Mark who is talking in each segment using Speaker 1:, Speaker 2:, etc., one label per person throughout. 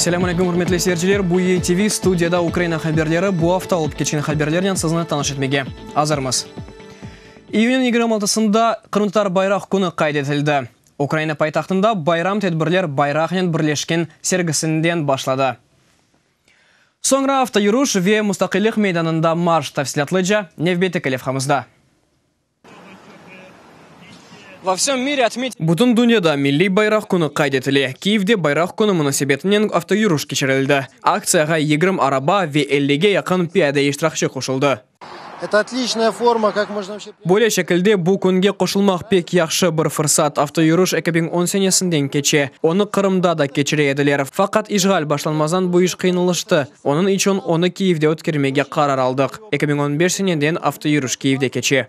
Speaker 1: Selâm aleyküm, hürmetli seyirciler! Bu YTV, studiyada Ukraina haberleri. Bu afta olıp keçken haberlernen sizni tanış etmege azırmız. İyünniñ yigirmi altısında qırımtatar bayraq künü qayd etildi. Ukraina paytahtında bayram tedbirler bayraqnen birleşken sergisinden başladı. Soñra avtoyürüş ve Mustaqillik meydanında marş, tafsilâtlıca nevbeteki levhamızda. Bütün dünyada Milliy bayraq künü qayd etile. Kyivde Bayraq künü munasebetinen avtoyürüş keçirildi. Aktsiyağa yigirmi araba ve ellige yaqın piyade iştirakçi qoşuldı. Böyle şekilde bu künge qoşulmaq pek yahşı bir fırsat. Avtoyürüş eki biñ on senesinden keçe. Onı Qırımda da keçire ediler. Faqat işğal başlanmazdan bu iş qıyınlaştı. Onıñ içün onı Kiyevde ötkermege qarar aldıq. Eki biñ on beş seneden avtoyürüş Kiyevde keçe.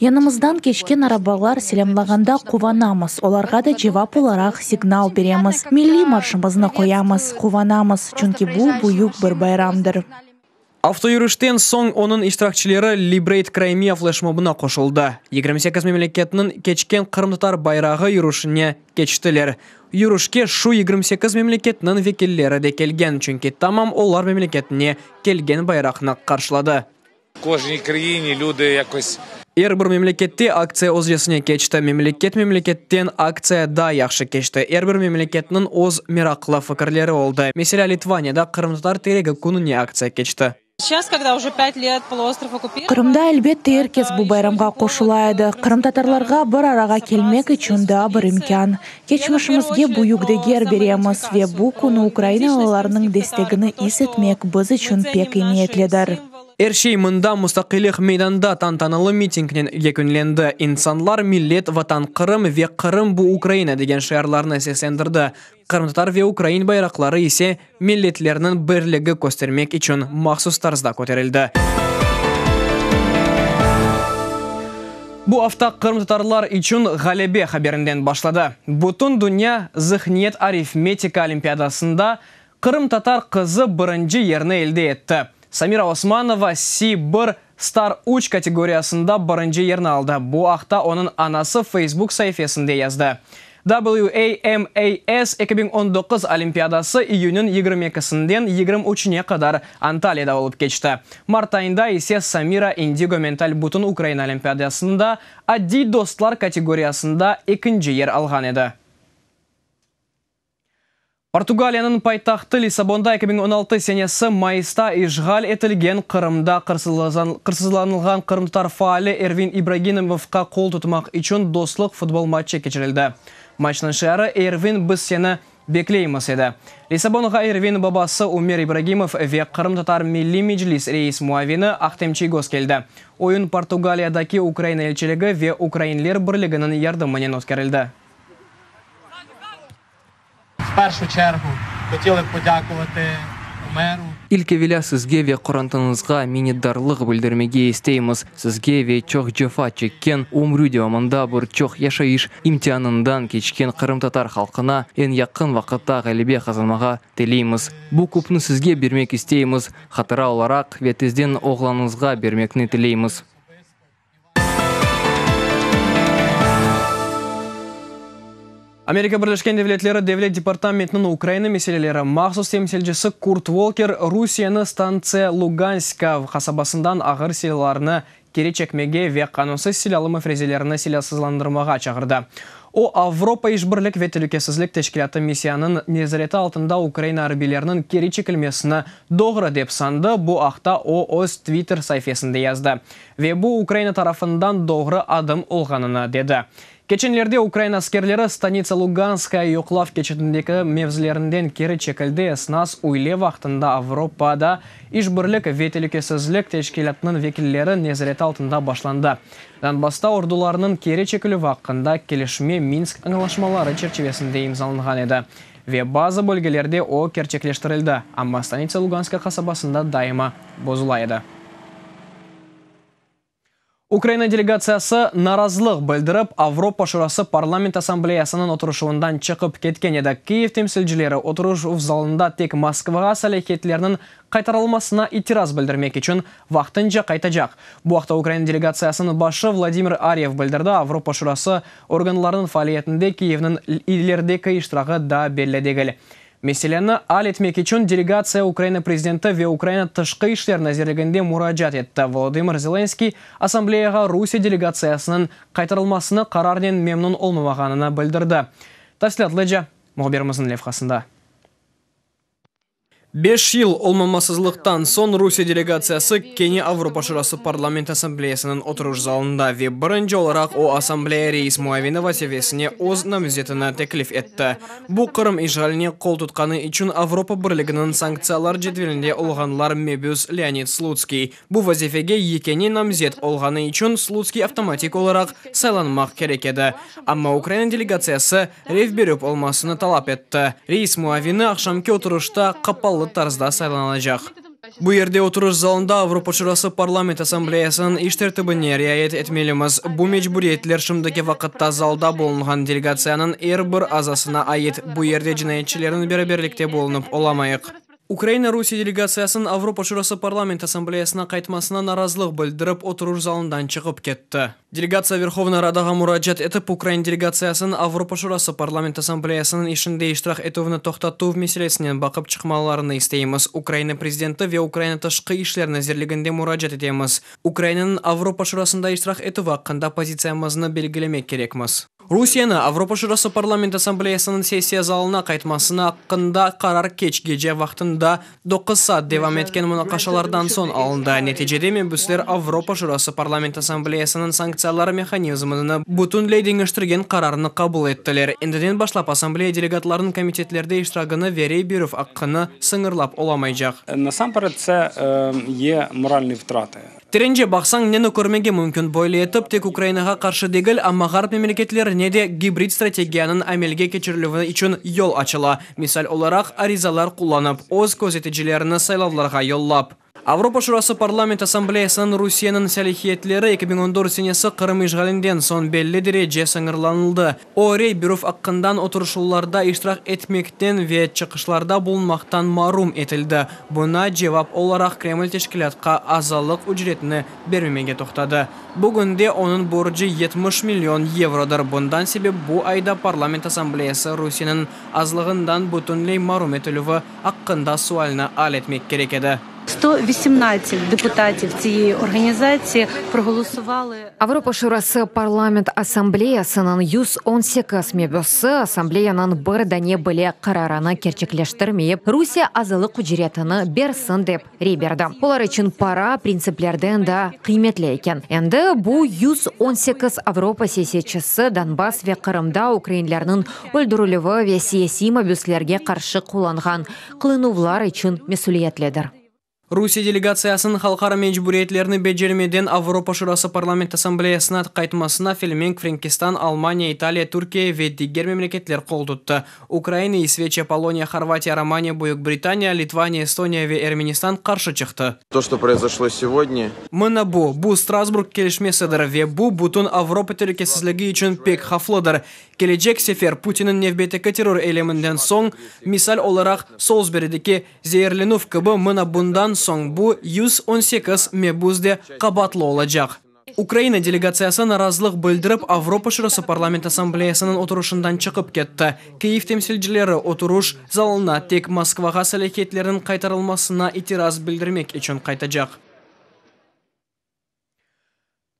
Speaker 2: Yanımızdan keçken arabalar selâmlağanda quvanamız, olarğa da cevap olaraq signal beremiz, milliy marşımıznı qoyamız, quvanamız, çünki bu, büyük bir bayramdır. Avtoyürüşten
Speaker 1: soñ onıñ iştirakçileri Liberate Crimea fleşmobına qoşuldı, yigirmi sekiz memleketniñ keçken qırımtatar bayrağı yürüşine keçtiler. Yürüşke şu yigirmi sekiz memleketniñ vekilleri de kelgen, çünki tamam olar memleketine kelgen bayraqnı qarşıladı. Er bir memlekette aktsiya özcesine keçti. Memleket memleketten aktsiya daa yahşı keçti. Er bir memleketniñ öz meraqlı fikirleri oldı. Meselâ, Litvaniyada Qırımtatar teregi kününe aktsiya keçti.
Speaker 2: Qırımda, elbette, er kes bu bayramğa qoşula edi. Qırımtatarlarğa bir arağa kelmek içün daa bir imkân. Keçmişimizge büyük deger beremiz ve bu künü ukrainalılarnıñ destegini is etmek biz içün pek emiyetlidir. Er şey
Speaker 1: mında Mustaqillik meydanında tantanalı mitingnen yekünlendi. İnsanlar, Millet, Vatan, Qırım ve Qırım, bu Ukraina degen şiarlarnı seslendirdi, qırımtatar ve ukrain bayraqları ise milletlerniñ birligi köstermek içün mahsus tarzda köterildi. Bu afta qırımtatarlar içün ğalebe haberinden başladı. Bütün dünya Zihniyet-arifmetika olimpiadasında Qırımtatar qızı birinci yerni elde etti. Samira Osmanova Si bir, Star üç kategoriyasında birinci yerni aldı, bu aqta onıñ anası Facebook saifesinde yazdı. WAMAS eki biñ on doquz olimpiadası iyünniñ yigirmi ekisinden yigirmi üçüne qadar Antalyada olıp keçti. Mart ayında ise Samira Indigo Mental Bütün Ukraina olimpiadasında Addiy dostlar kategoriyasında ekinci yer alğan edi. Portugaliyanıñ paytahtı Lissabonda eki biñ on altı senesi mayısta işğal etilgen Qırımda qırsızlanılğan qırımtatar faali Ervin İbraginomovqa qol tutmaq içün dostluq futbol matçı keçirildi. Matçnıñ şiarı, Ervin, biz seni bekleymiz! edi. Lissabonğa Ervin babası Umer İbragimov ve Qırımtatar Milliy Meclis reis muavini Ahtem Çiygoz keldi. Oyun Portugaliyadaki Ukraina elçiligi ve Ukrainler birliginiñ yardımınen ötkerildi.
Speaker 3: İlk evelâ
Speaker 4: sizge ve qorantıñızğa minnetdarlıq bildirmege isteymiz, sizge ve çoq cefa çekken, ömrü devamında bir çoq yaşayış imtianından keçken qırımtatar halqına eñ yaqın vaqıtta ğalebe qazanmağa tileymiz. Bu küpni sizge bermek isteymiz, hatıra olaraq ve tezden oğlanıñızğa bermekni tileymiz.
Speaker 1: Amerika Birleşken Devletleri Devlet departamentiniñ Ukraina meseleleri mahsus temsilcisi Kurt Volker Rusiyeni stantsiya Luganskav qasabasından ağır silâlarnı keri çekmege ve qanunsız silâlı müfrezelerni silâsızlandırmağa çağırdı. O, Avropa İşbirlik ve Telükesizlik Teşkilâtı missiyanıñ nezareti altında Ukraina arbiyleriniñ keri çekilmesini doğru dep sandı, bu aqta o öz Twitter saifesinde yazdı. Ve bu Ukraina tarafından doğru adım olğanını dedi. Keçenlerde Ukraina askerleri Stanitsa Luganskaya yoqlav keçitindeki mevzilerinden keri çekildi, esnas üyle vaqtında Avropada İşbirlik ve telükesizlik teşkilâtınıñ vekilleri nezareti altında başlandı. Donbassta ordularnıñ keri çekilüvi aqqında kelişme Minsk añlaşmaları çerçivesinde imzalanğan edi ve bazı bölgelerde o kerçekleştirildi, amma Stanitsa Luganskaya qasabasında daima bozula edi. Ukraina delegatsiyası narazılıq bildirip, Avropa Şurası Parlament Assambleyasınıñ oturışuvından çıqıp ketken edi. Kyiv temsilcileri oturışuv zalında tek Moskvağa salâhiyetlerniñ qaytarılmasına itiraz bildirmek içün vaqtınca qaytacaq. Bu aqta Ukraina delegatsiyasınıñ başı Vladimir Ariev bildirdi, Avropa Şurası organlarınıñ faaliyetinde Kyivniñ ilerideki iştiragi daa belli degil. Meseleni al etmek içün delegatsiya Ukraina prezidenti ve Ukraina Tışqı işler nazirliginde muracaat etti. Volodımır Zelenskıy assambleyağa Rusiye delegatsiyasınıñ qaytarılmasını qararnen memnun olmamağanını bildirdi. Tafsilâtlıca mühbirimizniñ levhasında. Beş yıl olmamasızlıqtan soñ Rusiye delegatsiyası kene Avropa Şurası Parlament assambleyasınıñ oturuş zalında ve birinci olaraq o, assambleya reis muavini vazifesine öz namzetini teklif etti. Bu, Qırım işğaline qol tutqanı içün Avropa Birliginiñ sanktsiyalar cedvelinde olğanlar mebüs Leonid Slutskiy. Bu vazifege yekâne namzet olğanı içün Slutskiy avtomatik olaraq saylanmaq kerek edi. Amma Ukraina delegatsiyası rev berüp olmasını talap etti. Reis muavini aqşamki oturışta qapalı tarzda saylanılacaq. Bu yerde oturuş zalında Avropa Şurası Parlament Assambleyasınıñ iş tertibine riayet etmelimiz. Bu mecburiyetler şimdiki vaqıtta zalda bulunğan delegatsiyanıñ er bir azasına ait, bu yerde cinayetçilernen beraberlikte bulunıp olamayıq. Ukraina Rusiye delegatsiyasınıñ Avropa Şurası Parlament Assambleyasına qaytmasına narazılıq bildirip, oturuş zalından çıqıp ketti. Delegatsiya Verhovnaya Radağa muracaat etip, ukrain delegatsiyasınıñ Avropa Şurası Parlament Assambleyasınıñ işinde iştirak etüvni toqtatuv meselesinen baqıp çıqmalarını isteymiz. Ukraina Prezidenti ve Ukraina Tışqı işler nazirliginde muracaat etemiz. Ukrainanıñ Avropa Şurasında iştirak etüvi aqqında pozitsiyamıznı belgilemek kerekmiz. Rusiyeni Avropa Şurası Parlament Assambleyasınıñ sessiya zalına qaytmasını aqqında qarar keç gece vaqtında doquz saat devam etken munaqaşalardan soñ alındı, neticede mebüsler Avropa Şurası Parlament Assambleyasınıñ sanktsiyalar mehanizmini bütünley deñiştirgen qararnı qabul ettiler, endiden başlap Assambleya delegatlarınıñ komitetlerde iştiragini ve rey berüv aqqını sıñırlap olamaycaq. Nasamperedse,
Speaker 5: ye moralnıy vtrati. Terence baqsañ,
Speaker 1: neni körmege mümkün, böyle etip, tek Ukrainağa qarşı degil, amma Ğarp memleketlerine de gibrid strategiyanıñ amelge keçirilüvi içün yol açıla, misal olaraq, arizalar qullanıp, öz közeticilerini saylavlarğa yollap. Avropa Şurası Parlament Assambleyasınıñ Rusiyeniñ salihiyetleri eki biñ on dört senesi Qırım işğalinden soñ belli derece sıñırlanıldı. O, Reyberov aqqından oturışuvlarda iştirak etmekten ve çıqışlarda bulunmaqtan marum etildi. Buña cevap olaraq Kreml teşkilâtqa azalıq ücretini bermemege toqtadı. Bugünde onıñ borcı yetmiş million yevrodır, bundan sebep bu ayda Parlament Assambleyası Rusiyeniñ azlığından bütünley marum etilüvi aqqında sualni al etmek kerek edi. Sto vesiemnadset
Speaker 6: deputativ tsiyei organizatsiye progolusovali. Avropa Şurası
Speaker 7: Parlament Assambleyasınıñ yüz on sekiz mebüsi Assambleyanıñ bir dane bile qararını kerçekleştirmeyip, Rusiye azalıq ücretini bersin dep Rey berdi. Olar içün para printsiplerden daa qıymetli eken. Endi bu yüz on sekiz Avropa siyasetçisi Donbass ve Qırımda ukrainlerniñ öldürilüvi ve siyasiy mabüslerge qarşı qullanğan qılınuvlar içün mesüliyetlidir. Rusiye
Speaker 1: delegatsiyasınıñ halqara mecburiyetlerni becermeden Avropa Şurası Parlament Assambleyasına qaytmasına Felmenk, Frenkistan, Almaniya, İtaliya, Türkiye ve diger memleketler qoltuttı. Ukraina, İsveçiya, Poloniya, Horvatiya, Romaniya, Büyük Britaniya, Litvaniya, Estoniya ve Ermenistan qarşı çıqtı. To, çto proizoşlo
Speaker 8: sevodnâ. Mına bu, bu
Speaker 1: Strasburg kelişmesidir ve bu bütün Avropa telükesizligi içün pek havflıdır. Kelecek sefer Putinniñ nevbeteki terror eyleminden soñ, misal olaraq Solsberideki zeerlenüv kibi, mına bundan soñ bu yüz on sekiz mebüs de qabaatlı olacaq. Ukraina delegatsiyası narazılıq bildirip, Avropa Şurası Parlament Assambleyasınıñ oturışından çıqıp ketti. Kyiv temsilcileri oturuş zalına tek Moskvağa salâhiyetlerniñ qaytarılmasına itiraz bildirmek içün qaytacaq.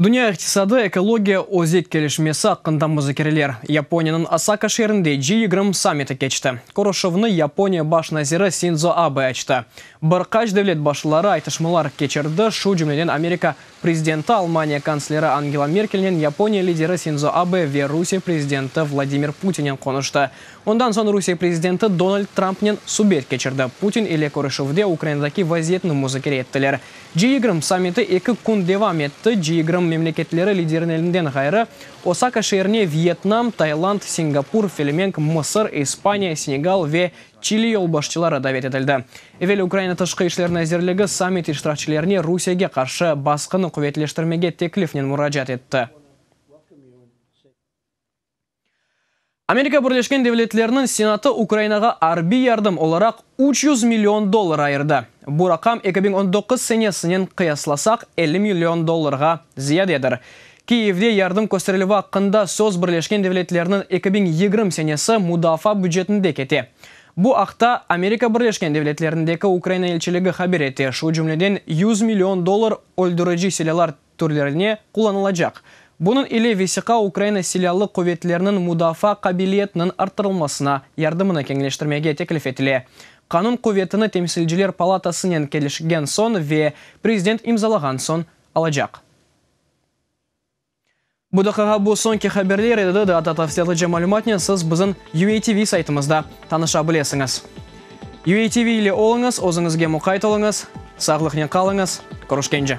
Speaker 1: Dünya iqtisadı, ekologiya, özek kelişmesi aqqında muzakereler. Yaponiyeniñ Osaka şeerinde G yigirmi sammiti keçti. Körüşüvni Yaponiya baş naziri Sindzo Abe açtı. Bir qaç devlet başlıları aytışmalar keçirdi, şu cümleden Amerika Prezidenti Almaniya kansleri Angela Merkelnen, Yaponiya lideri Sindzo Abe ve Rusiye prezidenti Vladimir Putinen qonuştı. Ondan soñ Rusiye prezidenti Donald Trampnen subet keçirdi. Putin ile körüşüvde Ukrainadaki vaziyetni muzakere ettiler. G-yigirmi sammiti eki kün devam etti. G-yigirmi memleketleri liderinelinden ğayrı, Osaka şeerine Vyetnam, Tailand, Singapur, Felemenk, Mısır, İspaniya, Senegal ve Çili yolbaşçıları davet etildi. Evel Ukraina Tışqı işler nazirligi sammit iştirakçilerine Rusiyege qarşı basqını quvetleştirmege teklifnen muracaat etti. Amerika Birleşken Devletleriniñ Senatı Ukrainağa arbiy yardım olaraq üç yüz million dollar ayırdı. Bu raqam eki biñ on doquz senesinen qıyaslasaq elli million dollarğa ziyadedir. Kiyevde yardım kösterilüvi aqqında söz Birleşken Devletlerniñ eki biñ yigirmi senesi mudafaa bücetinde kete. Bu aqta Amerika Birleşken Devletlerindeki Ukraina elçiligi haber ete, şu cümleden yüz million dollar öldürici silâlar türlerine qullanılacaq. Bunıñ ile vesiqa Ukraina Silâlı quvetleriniñ mudafaa qabiliyetiniñ arttırılmasına yardımını keñleştirmege teklif etile. Qanun quvetini Temsilciler palatasınen kelişken soñ ve prezident imzalağan soñ alacaq. Bu daqiqa bu soñki haberler edi, daa da tafsilâtlıca malümatnen siz bizim UATV saytımızda tanışa bilesiñiz. UATV ile oluñız, özüñizge muqayt oluñız, sağlıqnen qalıñız, körüşkence!